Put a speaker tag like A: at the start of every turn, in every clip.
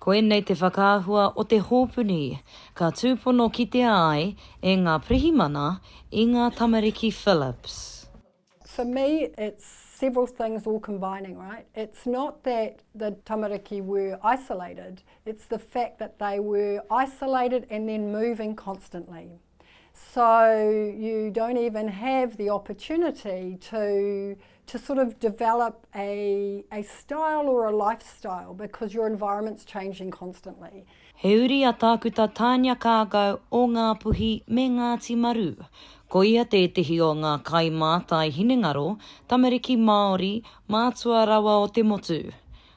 A: Koinei te whakaahua o te hōpuni, ka tūpono kitea ai e ngā pirihimana i ngā tamariki Phillips. For me
B: it's several things all combining right, it's not that the tamariki were isolated, it's the fact that they were isolated and then moving constantly. So you don't even have the opportunity to to sort of develop a, a style or a lifestyle because your environment's changing constantly. He uri a
A: Tākuta Tania Kākau o Ngāpuhi me Ngāti Maru. Ko ia tētehi o ngā kaimātai hinengaro, tamariki Māori, mātua rawa o te motu.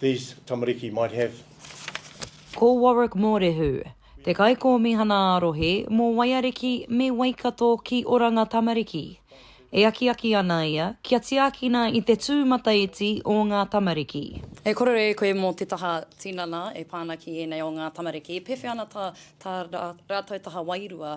C: these tamariki might have. Ko
A: Warwick Mōrehu, te Kaikōmihana ā-Rohe mō Waiariki me Waikato ki Oranga Tamariki. E akiaki ana ia kia tiakina i te tūmataiti o ngā tamariki. E kōrero e koe
D: mō te taha tinana e pā ana ki ēnei o ngā tamariki, pēwhea ana tā tā rātou taha wairua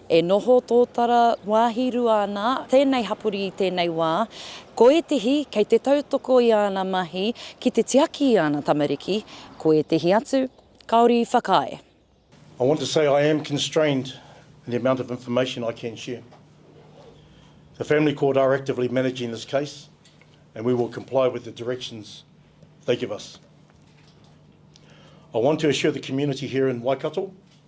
A: E noho tōtara wāhi rua ana tēnei hapori i tēnei wā, ko ētehi kei te tautoko i āna mahi ki te tiaki i āna tamariki, ko ētehi atu kāore i whakaae. I want to
C: say I am constrained in the amount of information I can share. The Family Court are actively managing this case and we will comply with the directions they give us. I want to assure the community here in Waikato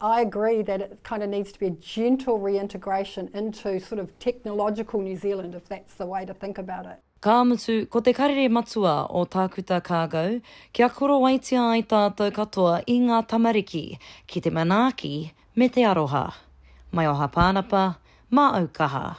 B: I agree that it kind of needs to be a gentle reintegration into sort of technological New Zealand, if that's the way to think about it. Ka mutu, ko te
A: karere matua o Tākuta Kākau, kia korowaitia ai tātou katoa i ngā tamariki ki te manaaki me te aroha. Mai o Hapānapa, māu kaha.